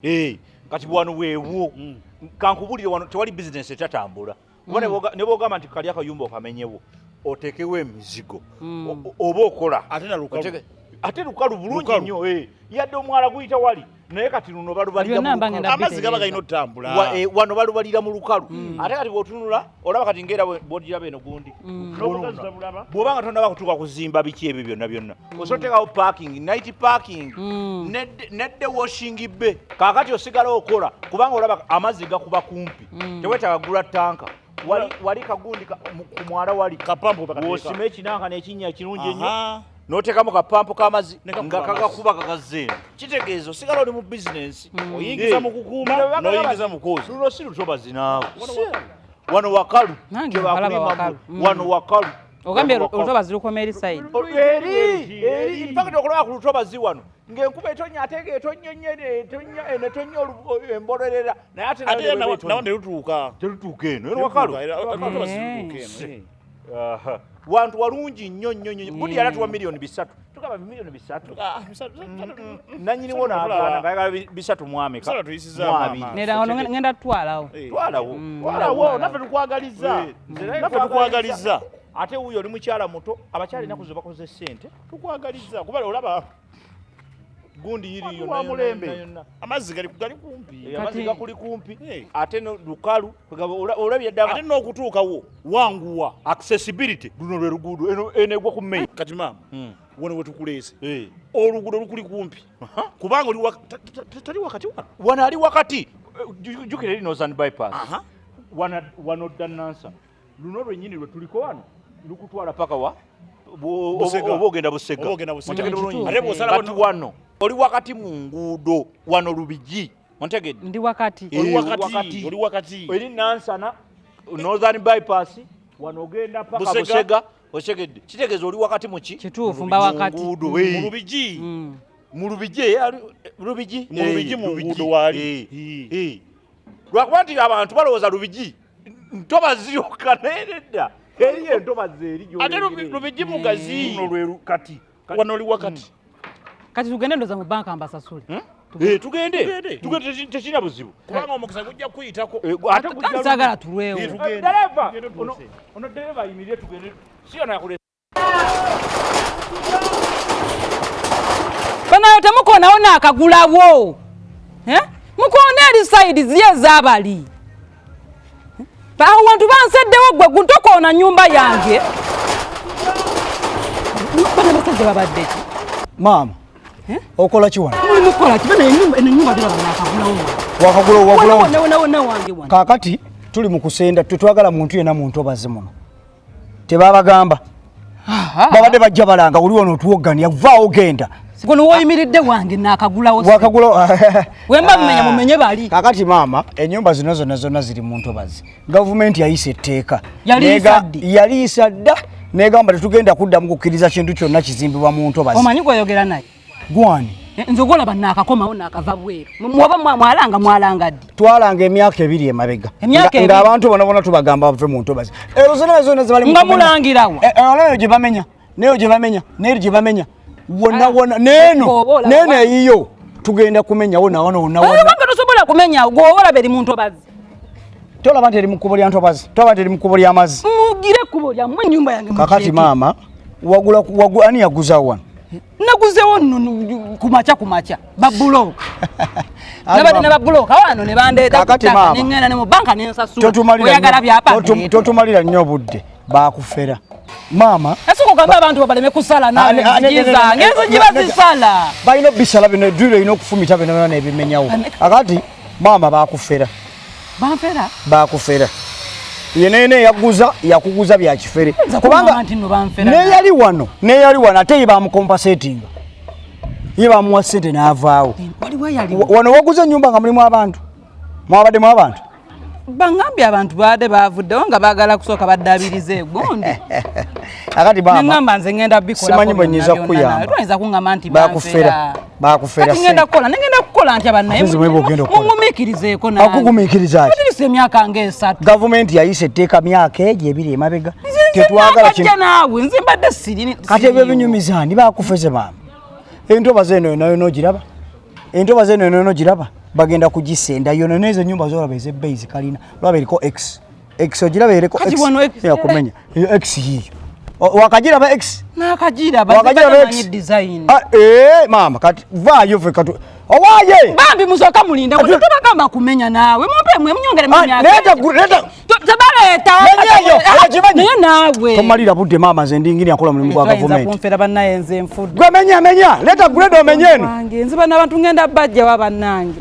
Hey, eh, kati wano weewo mm. kankubulire wano tewali bizinesi etatambula kuba mm. ne bwogamba nti kali akayumba okamenyewo otekewo emizigo mm. oba okola ate lukalu bulungi nnyo eh. yadde omwala guyita wali naye kati luno balubalira amazzi gaba galina otutambula eh, wano balubalira mu lukalu ate kati bwotunula olaba kati ngaera bwogiraba eno gundi mm. n'obugazi tabulaba bw'oba nga tonaba kutuuka kuzimba biki ebyo byonna byonna mm. osobola oteekawo parking night parking mm. nedde washing be kaakati osigala okola kubanga olaba amazzi gakuba kumpi tewetaaga gula tanka wali kagundi ku mwala wali osima ekinanka n'ekinnya ekirungi ennyo notekamu kapampu kamazi nga kakakuba kakazeeno kitegeeza osigala oli mu bizinensi hmm. oyingiza mukukuuma noyingiza mukozi luno si lutoba zinaawo wano wakalu kyebakulimba hmm. wano wakalu ogambye olutoba zilukoma eri saidi mpakati okulaba ku lutoba zi wano ngaenkuba etonya atega etonya nyo etonya eno etonya embolerera naye ate nawo telutuuka telutuuka eno eno wakalu wantu walungi nnyo nnyo nnyo budi yali atuwa miliyoni bisatu tugamba miliyoni bisatu ah, nanyiniwo nagana ngayagala bisatu mwameka mwabirngenda tutwalawo eh. twalawo mm. twalawo naffe tukwagaliza eh. naffe tukwagaliza ate wuyo oli mukyala muto abakyala enaku mm. zo bakoze sente tukwagaliza kuba olaba gundi yiri yo wa mulembe amazi gali gali kumpi eh, amazi gakuli kumpi hey. Eh. ate no lukalu olabye dama ate no kutuuka wo wanguwa accessibility luno lwe luguudo eno ene gwa ku main kati mama hmm. wona wetukulese hey. Eh. oluguudo lukuli kumpi uh -huh. kubanga oli wa tali wakati wa wana ali wakati jukire lino zan bypass uh -huh. wana wano danansa luno lwennyini lwe tuliko wano lukutwala paka wa oba ogenda busega ate wano oli wakati mu nguudo wano lubigi ontegedde ndi wakati oli wakati eri nansana northern bypass wano ogenda paka busega otegedde kitegeeza oli wakati muki kituufu mba wakati mu lubigi mm. mu lubigi eh, lubigi mu lubigi mu nguudo waali eh, eh. lwakuba nti abantu balowooza lubigi ntoba ziyokka naye nedda eri entoba zeeri ate lubijji mugazi kati wano oli wakati hmm. kati tugende ndoza mu banka mbasasule hmm? eh, tugende tekirina buzibu kubanga omukisa gujja kuyitako eh, atesagala tulwewo eh, ono dereva ayimirire tugende siyona banayo temukonawo nakagulawo eh? mukona eri saidi ziye ezabali awo wantu banseddewo gwe guntokoona nyumba yange bana basajja babadde ki maama eh? okola kiwana mulimu kukola ki bana enyumba terabanakagulawo wakagulawo wakagulawo wange kakati tuli mu kusenda tetwagala muntu yena muntu obaze muno tebabagamba babadde bajja balanga oli wano otuwoggania vaawo genda guno woyimiridde wange nakagulawo wakagula wemba mumenya mumenye bali kakati maama enyumba zino zona zona ziri mu ntobazi gavumenti yayisa etteeka yaliyisa dda negamba tetugenda kuddamu kukkiriza kintu kyonna kizimbibwa mu ntobazi omanyi gwoyogera naye gwani eh, nze ogwolaba naakakomawo naakava bweru muba mwalanga mwalanga ddi twalanga emyaka ebiri emabega nga abantu bona bona tubagamba bave mu ntobazi ezo zona zona zebalinga mulangirawo eh, eh, olaba eyo gye bamenya neyo gye bamenya neyo gye bamenya wonna ah, wonna neeno neeno eyiyo tugenda kumenyawo nawona wonna wonna tosobola kumenyawo gwowola beri mu ntobazi tolaba nti eri mu kkubo lya ntobazi tolaba nti eri mu kkubo ly'amazzi mugire ekkubo lyammwe ennyumba yange kakati maama wagula ani yaguza wano naguzewo nno ku makya ku makya babulooka nabadde ne babulooka wano ne bandeeta kutaka neŋŋenda ne mu banka ne nsasula oyagala byapa totumalira nnyo obudde bakufera maama ese kugamba abantu babaleme kusala nawezigiza ngenzi giba zisala balina obisala bino edwiro erina okufumita bino byona ebimenyawo akati maama bakufera banfera bakufera yenene yaguza yakuguza bya kifere kubanga neyali wano neyali wano ate ye bamukompasetinga ye bamuwa sente n'avaawo eh, wano waguza ennyumba nga mulimu abantu mwabaddemu abantu bangambye abantu baade baavuddewo nga baagala kusooka baddaabiriza egundi akati bama nengamba nze ngenda bikola simanyi bwenyiza kuyamba lweza kungamba nti bakufera bakufera kati ngenda kola nengenda kukola nti abana yemu mwebo genda kola mumumikirize ko na akugumikiriza ati kati se myaka nge esatu government yayise teka myaka eje biri emabega tetwagala kino nawe nze mbadde siri kati ebyo binyumiza ndi bakufeze bama entoba zeno nayo nojiraba entoba zeno nayo nojiraba bagenda kujisenda yonene ezo nyumba zora beze base kalina lwabiriko x Ex ojiraba ereko ex. Ya kumenya. Yo ex hiyo. Wakajiraba ex. Na kajira ba. Wakajiraba ex. Design. Ah eh mama kati va yo fe katu. Owaye. Bambi muzoka mulinda ko tuba kama kumenya nawe. Mumpe mwe mnyongere mimi yake. Leta leta. Tabara eta. Menya yo. Ajimenya. Naye nawe. Tomalira budde mama zende ngini akola mulimu kwa government. Nza kumfera banaye nze mfudde. Gwe menya menya. Leta grade omenyeno. Wange nziba nabantu ngenda bajja wabanange.